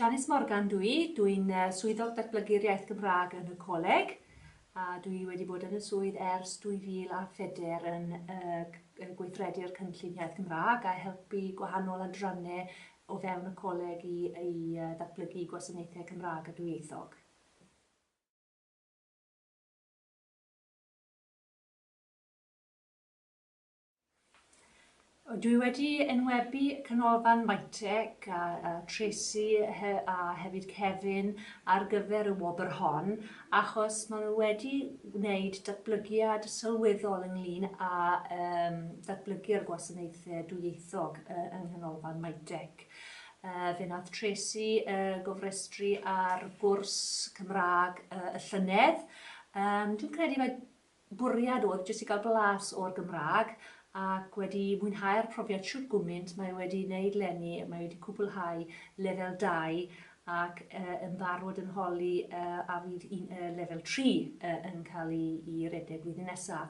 Janice Morgan dwi, dwi'n swyddog datblygu'r iaith Gymraeg yn y coleg a dwi wedi bod yn y swydd ers 2004 yn uh, gweithredu'r cynllun iaith Gymraeg a helpu gwahanol adrannau o fewn y coleg i, i uh, ddatblygu gwasanaethau Cymraeg a dwyieithog. Dwi wedi enwebu Canolfan Mytec a a Tracey he- a hefyd Kevin ar gyfer y wobr hon achos ma' nw wedi wneud datblygiad sylweddol ynglŷn â yym datblygu'r gwasanaethe dwyieithog yy yng Nghanolfan Mytec. Yy fe nath Tracey yy gofrestru ar gwrs Cymra'g yy y llynedd yym dwi'n credu mae bwriad oedd jyst i gael blas o'r Gymraeg ac wedi mwynhau'r profiad shwt gwmynt, mae e wedi wneud 'leni, mae e wedi cwblhau lefel dau ac yy yn barod yn holi yy a fydd un yy lefel tri yy yn cael ei i redeg flwyddyn nesa.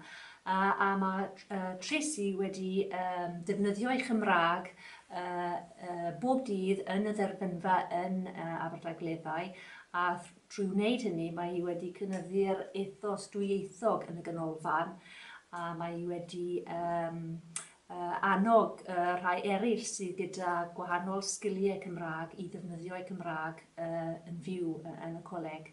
A a ma' yy Tracey wedi yym defnyddio ei Chymraeg yy yy bob dydd yn y dderbynfa yn yy Aberdaugleddau a Trwy wneud hynny, mae hi wedi cynyddu'r ethos dwyieithog yn y Ganolfan a mae hi wedi um, uh, annog uh, rhai eraill sydd gyda gwahanol sgiliau Cymraeg i ddefnyddio'u Cymraeg uh, yn fyw uh, yn y coleg.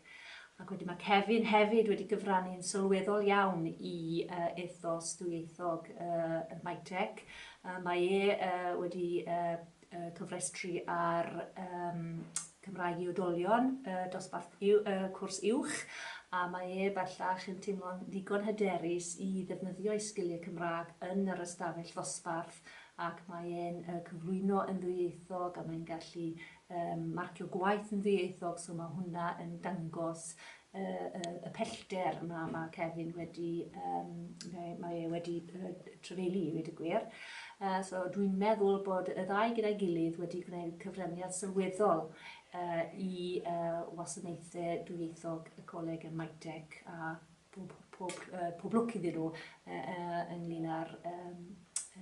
Ac wedyn mae Kevin hefyd wedi gyfrannu'n sylweddol iawn i uh, ethos dwyieithog uh, y Mytec. Uh, mae e uh, wedi uh, y cofrestru ar um, Cymraeg i Odolion, y dosbarth y cwrs uwch, a mae e bellach yn teimlo'n ddigon hyderus i ddefnyddio ei sgiliau Cymraeg yn yr ystafell ddosbarth ac mae e'n uh, cyflwyno yn ddwyieithog a mae'n gallu um, marcio gwaith yn ddwyieithog, so mae hwnna yn dangos y, y, y pellter mae, mae Kevin wedi, um, mae, mae e wedi uh, trefelu i wedi y gwir. Uh, so dwi'n meddwl bod y ddau gyda'i gilydd wedi gwneud cyfraniad sylweddol uh, i uh, wasanaethau dwyieithog y coleg yn Maitec a pob, pob, uh, pob lwc iddyn nhw uh, uh, ynglyn â'r um,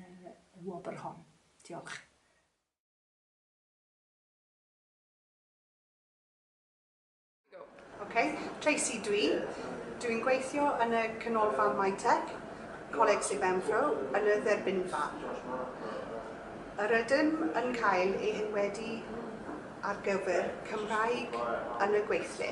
uh, wobr hon. Diolch. Ok, Tracy dw i. Dw i'n gweithio yn y Canolfan Mytec, Coleg Sir Benfro, yn y dderbynfa. Yr ydym yn cael ei henwebu ar gyfer Cymraeg yn y gweithle.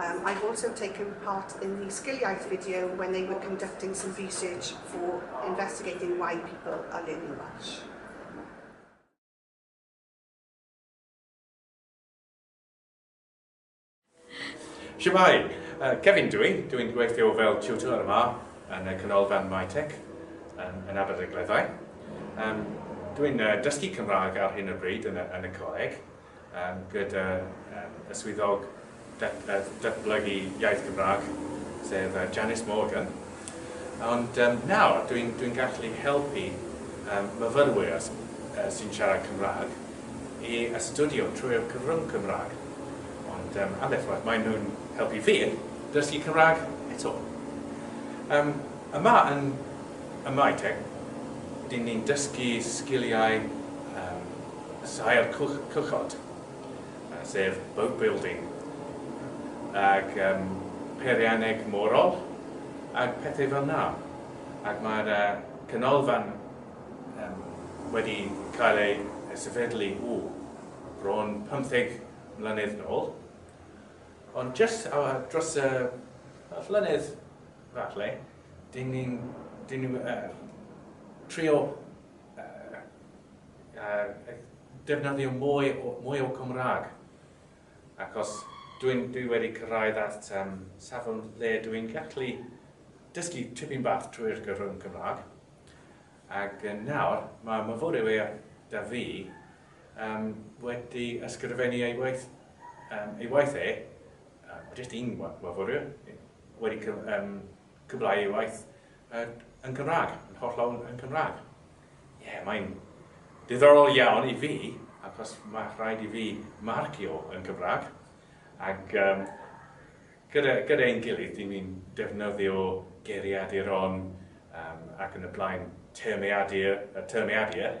Um, I've also taken part in the Sgiliaeth video when they were conducting some research for investigating why people are learning Welsh. Shemai, uh, Kevin dwi, dwi'n gweithio fel tutor yma yn y canolfan MyTech um, yn Aberdaugleddau. Um, dwi'n uh, dysgu Cymraeg ar hyn o bryd yn y, yn y coleg, gyda y Swyddog Datblygu Iaith Gymraeg, sef Janice Morgan, ond nawr dwi'n gallu helpu myfyrwyr sy'n siarad Cymraeg i astudio trwy'r cyfrwng Cymraeg, ond ambell waith maen nhw'n helpu fi dysgu Cymraeg eto. Yma yn y Mae Teg, dyn ni'n dysgu sgiliau, Saer Cwchod, sef boat building, ac yym peirianneg morol ac pethau fel 'na. Ac mae'r yy canolfan yym wedi cael ei sefydlu, ww, bron pymtheg mlynedd nôl, ond jyst dros y y llynedd falle, 'dyn ni'n 'dyn ni yy trio defnyddio mwy o, mwy o Cymraeg. Achos dwi'n dwi wedi cyrraedd at um, safon le dwi'n gallu dysgu tipyn bach trwy'r gyfrwng Cymraeg. Ac yn nawr, mae myfyrwyr da fi um, wedi ysgrifennu ei waith, um, ei waith e, um, jyst un myfyrwyr, wedi um, Cymraeg ei waith yn Cymraeg, yn holl lawn yn Cymraeg. Ie, yeah, mae'n diddorol iawn i fi, achos mae rhaid i fi marcio yn Cymraeg, ac um, gyda, gyda ein gilydd, dyn ni'n defnyddio geiriadur on um, ac yn y blaen termiadur, y termiadur,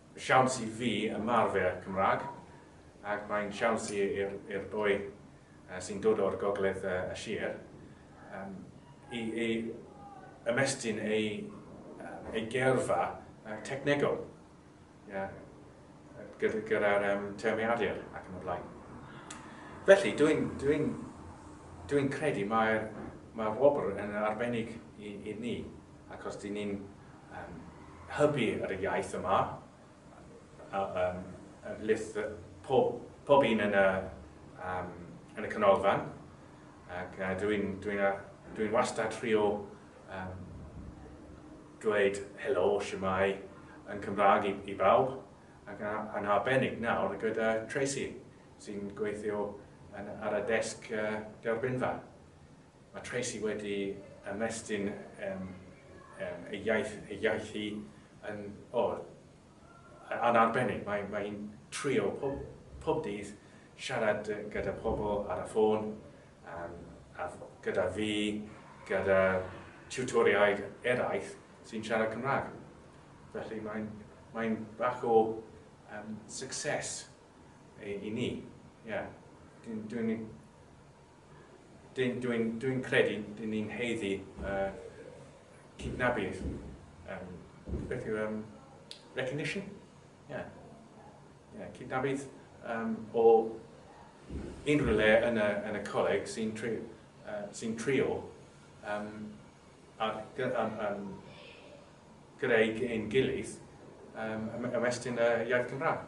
siawns i fi ymarfer Cymraeg ac mae'n siawns i'r boi sy'n dod o'r gogledd y sir i ymestyn ei geirfa technegol gyda'r termau adur ac yn y blaen. Felly, dwi'n credu mae'r wobr yn arbennig i ni. Ac os dyn ni'n hybu ar y iaith yma, pob un yn y canolfan, ac dwi'n wastad trio dweud helo, shwmae yn Cymraeg i bawb, ac yn arbennig nawr gyda Tracey, sy'n gweithio ar y desg derbynfa. Mae Tracy wedi ymestyn ei iaith, ei iaith hi yn, o, yn arbennig. Mae, mae hi'n trio pob, pob dydd siarad gyda pobl ar y ffôn, um, a gyda fi, gyda tutoriaid eraill sy'n siarad Cymraeg. Felly mae'n mae bach o um, success i, i ni. Yeah. Dwi'n dwi Dwi'n dwi'n dwi'n credu dyn ni'n heiddi uh, cydnabydd. Um, beth yw um, recognition? Yeah. Yeah, cydnabydd um, o unrhyw le yn y, yn y coleg sy'n tri, uh, sy trio um, ar, um, um, greu ein gilydd um, ymestyn y iaith Gymraeg.